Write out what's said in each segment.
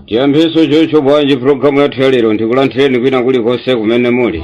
chiyambiso chocho bwanji pulogalamu yathu ya lero ndikulandireni kwina kulikonse kumene muli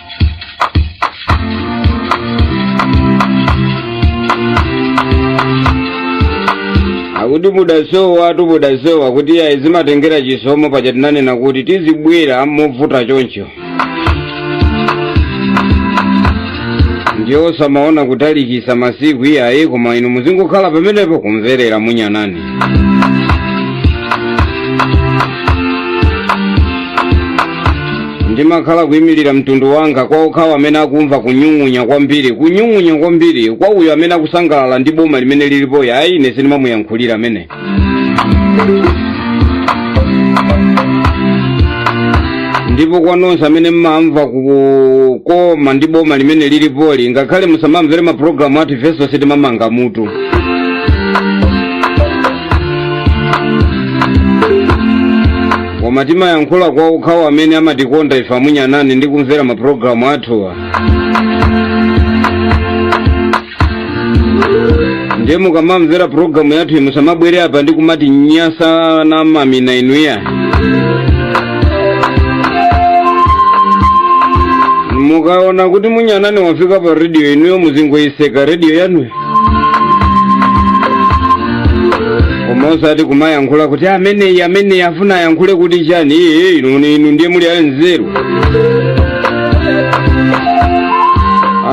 akuti mudasowatu mudasowa kuti iyayi zimatengera chisomo paja tinanena kuti tizibwera movuta choncho ndiye osamaona kutalikisa masiku iyayi koma inu muzingokhala pamenepo kumverera munyanani ndimakhala kuyimirira mtundu wanga kwa okhawo amene akumva kunyung'unya kwambiri kunyung'unya kwambiri kwa uyo amene akusangalala ndi boma limene lilipoli ayi ine sindimamuyankhulira amene ndipo kwa nonse amene mmamva kukoma ndi boma limene lilipoli ngakhale musamamvere mapulogalamu athu ifenso sitimamanga mutu koma timayankhula kwa okhawo amene amatikonda ife amunyanani ndi kumvera mapulogalamu athuwa ndiye mukamamvera pulogalamu yathu musamabwere apa ndi kumati nyasa na mamina inuyo mukaona kuti munyanani wafika pa rediyo inuyo muzingoyitseka rediyo yanuyo koma osati kumayankhula kuti ameneyi ameneyi afuna ayankhule kuti chani iye inu inu ndiye muli anzeru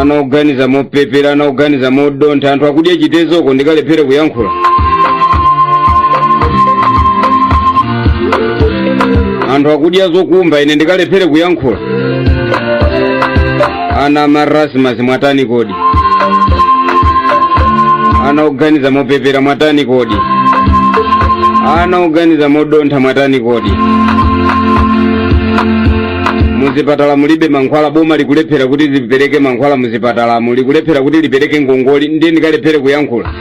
ana oganiza mopepera ana oganiza modontha anthu akudya chitedzeko ndikalephere kuyankhula anthu akudya zokumba ine ndikalephere kuyankhula ana marasmas mwatani kodi ana oganiza mopepera mwatani kodi ana oganiza modontha mwatani kodi muzipatala mulibe mankhwala boma likulephera kuti lipereke mankhwala muzipatalamu likulephera kuti lipereke ngongole ndiye ndikalephere kuyankhula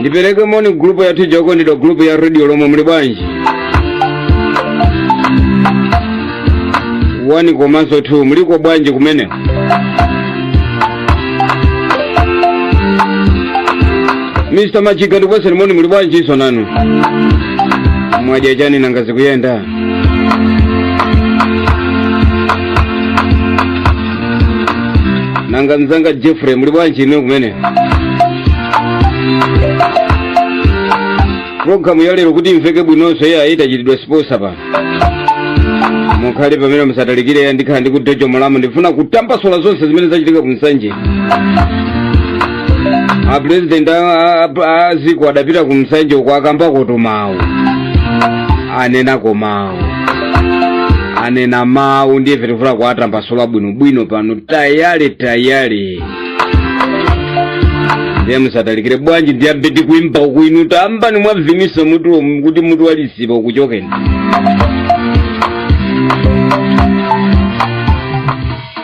ndipereke moni gulupu yathu ija okondedwa gulupu ya redio lomwe muli bwanji wani komanso 2 muliko bwanji kumene mr machiga ndikupatseni moni muli bwanjinso nanu mwadya chani nanga zikuyenda nanga mzanga jeffrey muli bwanji inu kumene programu ya lero kuti imveke bwinonso iyayi tachitidwa sponsor pano mukhale pamene musatalikire ya ndikhala ndi kudojo mulamu ndifuna kutambasula zonse zimene zachitika ku nsanje apurezidenti aziko adapita ku nsanje uko akambako tumawu anenako mawu anena mawu ndiye tifuna kuwatambasula bwinobwino pano tayale tayale ndiye musatalikire bwanji ndiyambe ndi kuimba uku inu tambani mwabviniso mutu kuti mutu walisipa ukuchokeni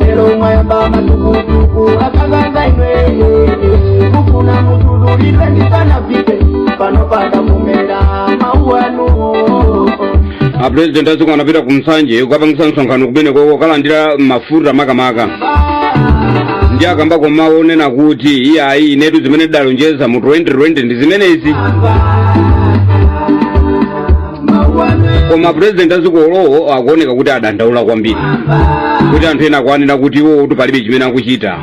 lero mwayamba matukutuku akanganga inweye kufuna mutululire ndisanafike pano panda mumera mau anu a president aziko anapita ku nsanje kukapangitsa msonkhano kumeneko kokalandira mafuta makamaka ndiye akambako mawu onena kuti iyayi inetu zimene ndidalonjeza mu 2020 ndi zimenezi koma apresident aziko olo iwo akuoneka kuti adandaula kwambiri kuti anthu ena akuanena kuti iwo kuti palibe chimene akuchita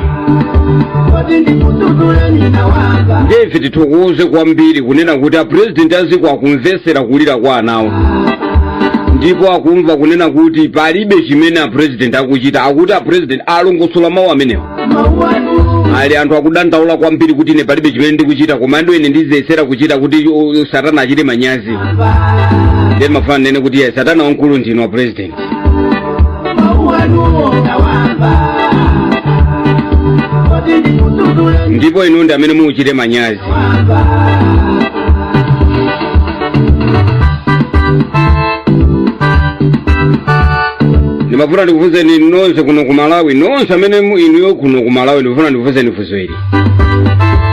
ndiye ife tithokoze kwambiri kunena kuti apresident aziko akumvetsera kulira kwa anawo ndipo akumva kunena kuti palibe chimene apresident akuchita akuti apresident alongosola mawu amenewo ali anthu akudandaula kwambiri kuti ine palibe chimene ndikuchita komano ine ndiziyesera kuchita kuti u- u- satana achite manyazi ndiye ndimafuna ndinene kuti ye satana wamkulu ndinu a president ndipo inu ndi amene muchite manyazi ndimafuna ndikufunseni nonse kuno ku malawi nonse amene mu- inuyo kuno ku malawi ndikufuna ndikufunseni funso ili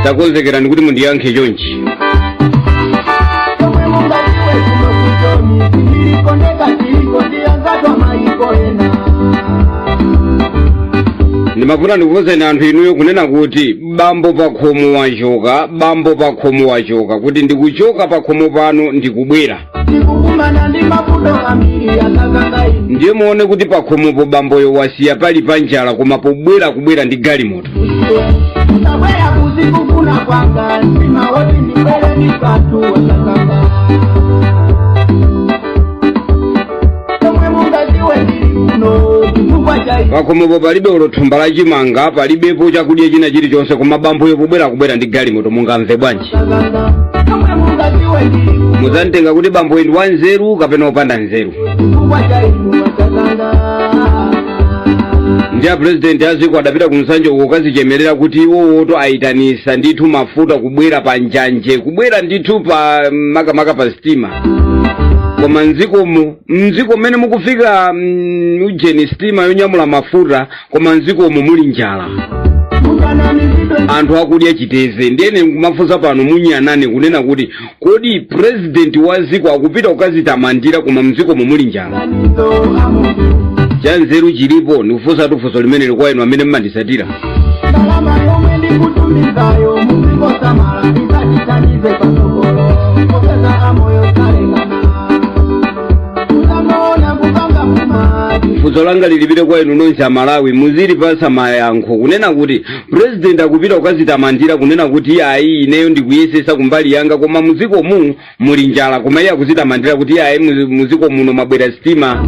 takonzekerani kuti mundiyankhe chonchi Omwe mungaliwe kuno kuchomi, tilikondeka tiliko ndiyangatwa maiko ena. ndimafuna ndikufunseni anthu inuyo kunena kuti bambo pakhomo wachoka bambo pakhomo wachoka kuti ndikuchoka pakhomo pano ndikubwera ndikukumana ndi mavuto ambiri akakaka ine ndiye muone kuti pakhomopo bamboyo wasiya pali pa njala koma pobwera kubwera ndi galimoto ndabwera kuzikufuna kwanga mtima woti ndibwere ndi patu wakakaka chomwe mungaziwe ndili kuno chifukwa cha ichi pakhomopo palibe olo thumba la chimanga palibepo chakudya china chilichonse koma bamboyo pobwera akubwera ndi galimoto mungamve bwanji sakana chomwe mungaziwe ndili kuno muzamtenga kuti bamboyo ndi wanzeru kapena opanda nzeru chifukwa cha ichi masakana ndi a purezidenti a dziko adapita ku nsanje uko kukazichemerera kuti iwowotu ayitanisa ndithu mafuta kubwera pa njanje kubwera ndithu pa makamaka pa sitima koma mdzikomo mdziko mmene mukufika mm, ujeni sitima yonyamula mafuta koma mdzikomo muli njala anthu akudya chiteze ndiye ine nkumafunsa pano munyanane kunena kuti kodi purezidenti wa dziko akupita kukazitamandira koma mdzikomo muli njala chanzeru chilipo ndikufunsatu funso limeneli kwa inu amene mmandisatira ndalama yomwe ndikutumizayo muzingosamala izatithandize pasogolo popeza amoyo salekana uzangoona kupanga mumadi funso langa lilipite kwa inu nonse amalawi muzilipasa mayankho kunena kuti president akupita kukazitamandira kunena kuti ayi ineyo ndikuyesesa kumbali yanga koma muzikomu muli njala koma iye akuzitamandira kuti iyayi mu- muziko muno mwabwera sitima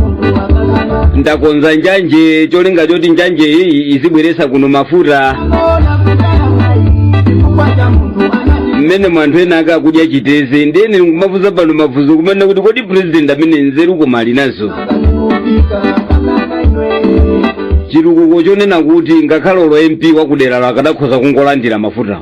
ndakonza njanje cholinga choti njanje iyi izibweresa kuno mafuta mmenemo anthu ena ake akudya chiteze ndiye ine ndikumafunsa pano mafunso kumene kuti kodi president amene nzeru koma ali nazo chitukuko chonena kuti ngakhale olo mp wakuderalo akadakhoza kungolandira mafuta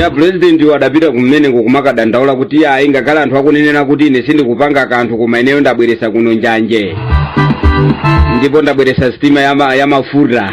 ya president uyu adapita kumeneko kumakadandaula kuti iyayi ngakhale anthu akunenera kuti ine sindikupanga kanthu koma ineyo ndabweresa kuno njanje ndipo ndabweresa sitima ya ma- ya mafuta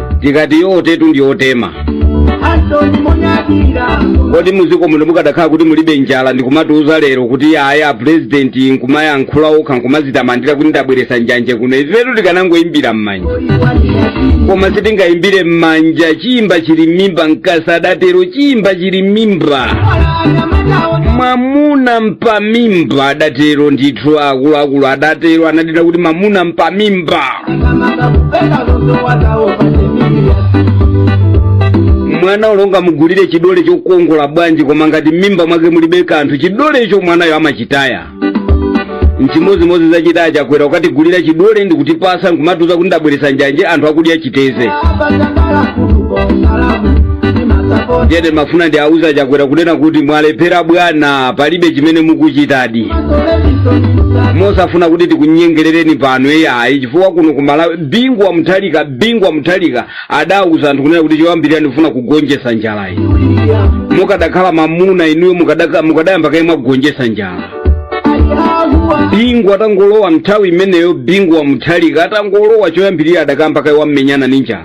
tikati yotetu ndi yotema kodi muziko muno mukadakhala kuti mulibe njala ndikumatiuza lero kuti ayi a president nkumayankhula okha nkumazitamandira kuti ndabweresa njanje kuno ifetu tikanangoyimbira m'manja koma sitingayimbire m'manja chimba chili m'mimba nkasa adatero chimba chili m'mimba mwamuna mpamimba adatero ndithu akuluakulu adatero anadziwa kuti mwamuna mpamimba mwana olo ungamugulire chidole chokongola bwanji koma ngati m'mimba mwake mulibe kanthu chidolecho mwanayo amachitaya nchimodzimodzi zachita a chakwera kukatigulira chidole ndikutipasa nkumatiuza kuti ndabweresa njanje anthu akudya chiteze ndiye ndimafuna ndiwauze a chakwera kunena kuti mwalephera bwana palibe chimene mukuchitadi mosafuna kuti tikunyengerereni pano eyayi chifukwa kuno ku malawi bingu wa muthalika bingu wa muthalika adauza anthu kunena kuti choyambirira ndifuna kugonjesa njala iyi mukadakhala mamuna inuyo mukadaka- mukadayamba kaye mwagonjesa njala bingu atangolowa nthawi imeneyo bingu wa muthalika atangolowa choyambirira adakamba kaye wammenyana ndi njala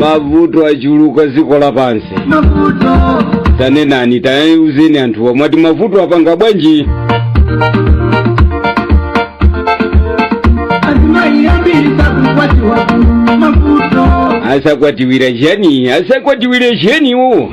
mavuto achuluka dziko lapansi tanenani tauzeni anthuwa mwati mavuto apanga bwanji asakwatiwira chiyani asakwatiwira chiyaniwo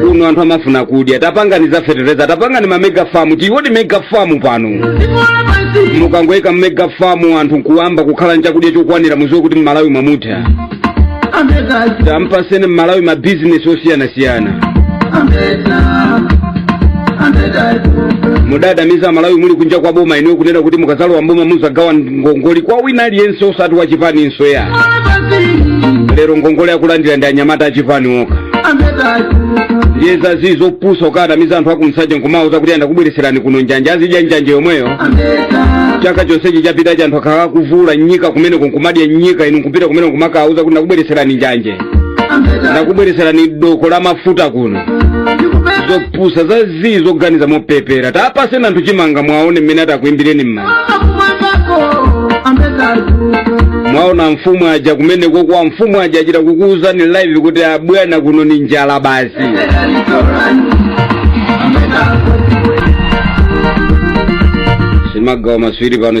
kuno anthu amafuna kudya tapangani za fetereza tapangani ma mega farm tiwone mega farm pano mukangoyika mega farm anthu nkuyamba kukhala ndi chakudya chokwanira muziwe kuti mmalawi mwamutha tampaseni mmalawi ma business osiyanasiyana mudanamiza amalawi muli kunja kwa boma inuyo kunena kuti mukazalowa mboma muzagawa ngongole kwa wina aliyense osati wachipani iyayi lero ngongole akulandira ndi anyamata achipani okha ndiye zazii zopusa kukanamiza anthu aku nsanje nkumawauza kuti ndakubweretserani kuno njanje azidya njanje yomweyo chaka chonsechi chapitachi anthu akhala akuzula nyika kumeneko nkumadya nyika inu nkupita kumeneko nkumakawauza kuti ndakubweretserani njanje ndakubweretserani doko la mafuta kuno pusa za zii zoganiza mopepera tapaseni anthu chimanga mwaona mmene atakuimbireni m'manja mwaona mfumu aja kumeneko kuja mfumu aja achita kukuwuzani live kuti abwana kuno ni njala basi simagawa maswiri pano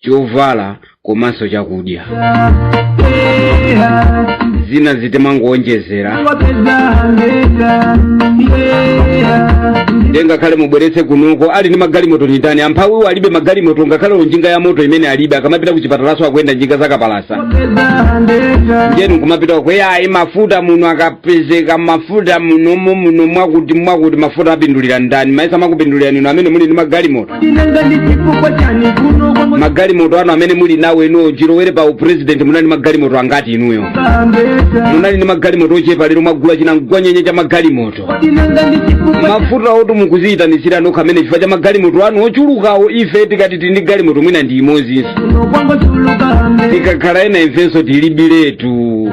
chovala komanso chakudya zina zitimangowonjezera nde ngakhale mubweretse kunoko ali ndi magalimoto ndi ndani amphawiwo alibe magalimoto ngakhale njinga ya moto imene alibe akamapita ku chipatalanso akuyendera njinga zakapalasa njeni kumapita kweya ayi mafuta muno akapezeka mafuta munomo muno mwakuti mwakuti mafuta apindulira ndani mayesa akupindulira ndinu amene muli ndi magalimoto magalimoto anu amene muli nawo inuyo chilowere pa upresident munali ndi magalimoto angati inuyo munali ndi magalimoto ochepa lero mwagula chinam'gwanyenye cha magalimoto mafutawotu mukuziyitanitsira nokha amene chifukwa cha magalimoto anu ochulukawo ife tikati tili ndi galimoto mwina ndi imodzinso tikakhala ena ifenso tilibiretu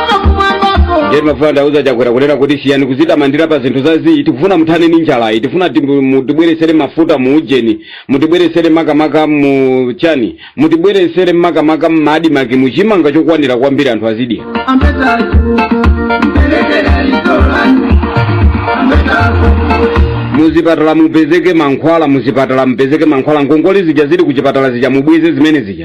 ndiye timafuna ndiuze Chakwera kunena kuti siyani kuzitamandira pa zinthu za zii tikufuna muthane ndi njalayi tifuna timu- mutibweresere mafuta mu ujeni mutibweresere makamaka mu chani mutibweresere makamaka mma ADMARC mu chimanga chokwanira kwambiri anthu azidya muzipatala mupezeke mankhwala muzipatala mupezeke mankhwala ngongole zija zili kuchipatala zija mubweze zimene zija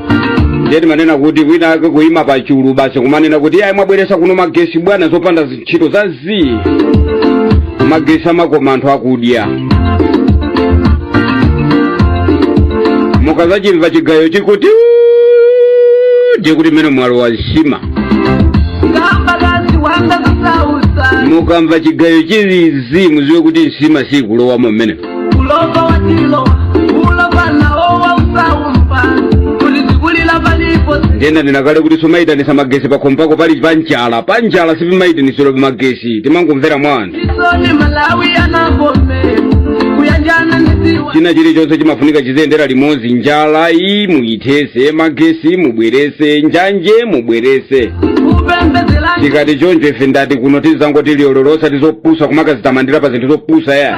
ndiye timanena kuti wina ake kuima pa chulu basi kumanena kuti iyayi mwabweresa kuno magesi bwana zopanda ntchito za zii magesi amakoma anthu akudya mukazachimva chigayo chikuti "Uuu", ndiye kuti mmene mwalowa nsima ngambakazi wanga kusausa mukamva chigayo chilizi mudziwe kuti nsima sikulowamo mmenemo ulova watilowa ulova nawo wausaumba kuti tikulira palipo ndiye ndanena kale kuti sumayitanisa magesi pakhomo pako pali pa njala pa njala sipamayitanisidwa magesi timangomvera mwa anthu chisoni malawi anagome kuyanjana nisiwa china chilichonse chimafunika chiziyendera limodzi njala iyi muyithese magesi mubwerese njanje mubwerese kupembezela tikati choncho ife ndati kuno tizangoti liyololo osati zopusa kumakazitamandira pa zinthu zopusa ya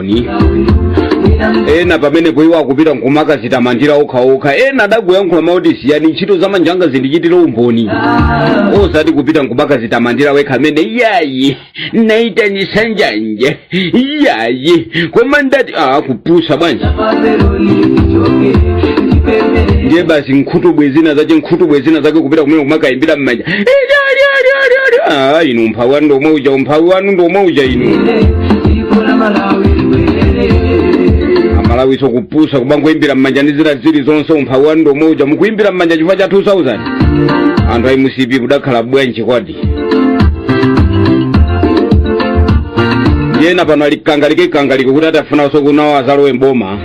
umboni ena pamenepo iwo akupita nkumakazitamandira okhaokha ena adakuyankhula mawu oti siyani ntchito za manja anga zindichitire umboni osati kupita nkumakazitamandira wekha amene iyayi naitanisa njanje iyayi koma ndati aa kupusa bwanji ndiye basi nkhutubwe zina zake nkhutubwe zina zake kupita kumene kumakayimbira mmanja Ah, inu umphawi wanu ndomwe uja umphawi wanu ndomwe uja inu amalawiso kupusa kumangoimbira mmanja ndi zina zili zonse umphawi wanu ndomwe uja mukuimbira mmanja chifukwa cha 2000 anthu a mcp kudakhala bwanji kodi ena pano ali kangalike kangalike kuti akufunaso kuti nawo azalowe mboma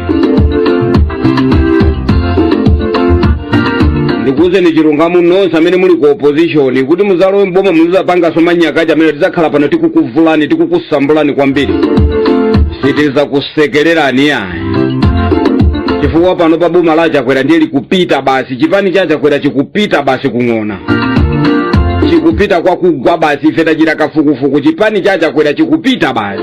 ndikuuzeni chilungamo nonse amene muli ku opposition kuti muzalowe mboma muzizapangaso manyaka aja amene tizakhala pano tikukuvulani tikukusambulani kwambiri sitizakusekererani yayi chifukwa pano pa boma la chakwera ndiye likupita basi chipani cha chakwera chikupita basi kung'ona chikupita chikugwa basi ife tachita kafukufuku chipani cha chakwera chikupita basi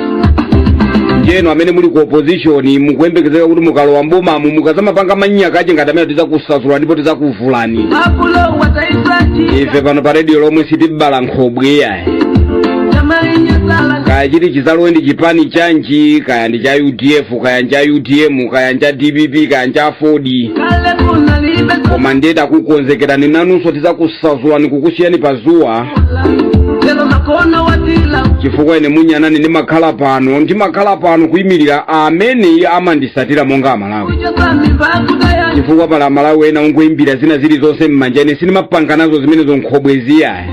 ndiye inu amene muli ku opposition mukuyembekezeka kuti mukalowa mbomamu mukazamapanga manyaka aja ngati amenewa tizakusasulani ndipo tizakuvulani abulo wataisati ife pano pa radio Lomwe sitibayira nkhobwe yayi tamalinyesala kaya chidzati chizalowe ndi chipani chanji kaya ndi cha udf kaya ndi cha utm kaya ndi cha dpp kaya ndi cha aford kale kunalibe koma ndiye takukonzekerani nanunso tizakusasulani kukusiyani pa zuwa lelo makona watila chifukwa ine munyanani ndimakhala pano ndimakhala pano kuyimirira amene amandisatira monga amalawi uja zambi bakudaya chifukwa pali amalawi ena ongoyimbira zina zilizonse m'manja ine sindimapanga nazo zimenezo nkhobwezi ayi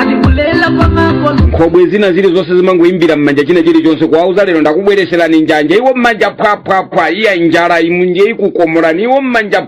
alikulela kwa makono nkhobwe zina zilizonse zimangoyimbira m'manja china chilichonse kuwauza lero ndakubweretserani njanji iwo m'manja phwaphwaphwa iya njala imunje ikukomorani iwo m'manja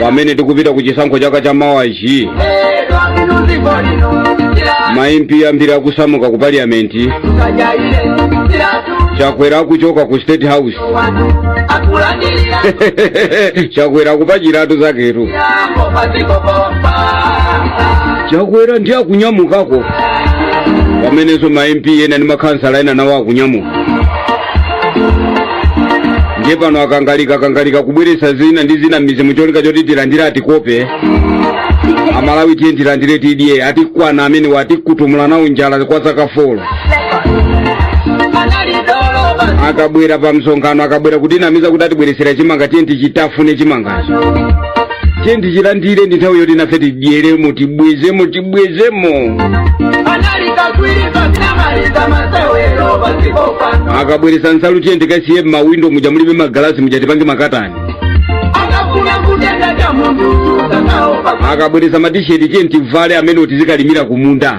pamene tikupita ku chisankho chaka cha mawachi maimpi ambiri akusamuka ku parliamenti chakwera akuchoka ku state house chakwera akupakiratu zaketu chakwera ndiye akunyamukako pamenenso maimpi ena ndi makhansala ena nawo akunyamuka ndiye pano akangalika kangalika kubweresa zina ndi zina m'mizimu cholinga choti tilandire atikope amalawi tiye tilandire tidye atikwana amenewa tikutuwa nayo njala kwa zaka folo akabwera pa msonkhano akabwera kutinamiza kuti atibweretsera chimanga tiye tichitafune chimangacho tiye tichilandire ndi nthawi yoti nafe tidyeremo tibwezemo tibwezemo akabweresa nsalu tiye tikasiye m'mawindo muja mulibe magalasi muja tipange makatani akabweresa matisheti tiye tivale amenewo tizikalimira kumunda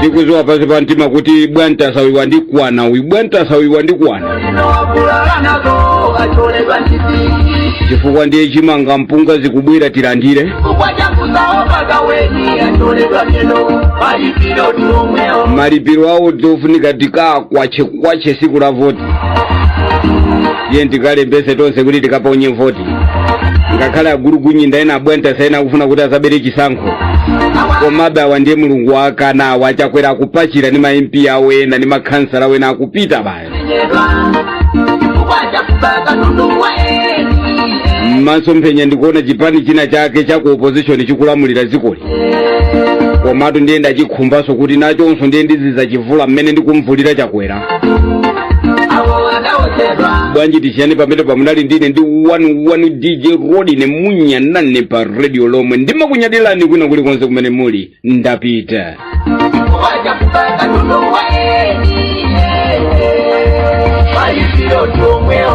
tikuziwa pasi pa mtima kuti bwantasa uyu wandikwana uyu bwantasa uyu wandikwana chifukwa ndiye chimanga mpunga zikubwera tilandire malipiro awo zofunika tikakwache kwache siku la voti tiye tikalembese tonse kuti tikaponye voti ngakhale agulugunyinda ena abwantasa ena akufuna kuti azabere chisankho komabe awa ndiye mulungu wakana awa achakwera akupakira ni ma mp awo ena ni makhansala awo ena akupita baye mmasomphenya ndikuona chipani china chake cha ku opposition chikulamulira dzikoli komatu ndiye ndachiuzanso kuti nachonso ndiye ndizizachivula mmene ndikumvulira chakwera bwanji tisiyane pamene pamunali ndine ndi 11 dj rodine munyanani pa radio lomwe ndimakunyadilani kwina kulikonse kumene muli ndapita Palipiro tu mweo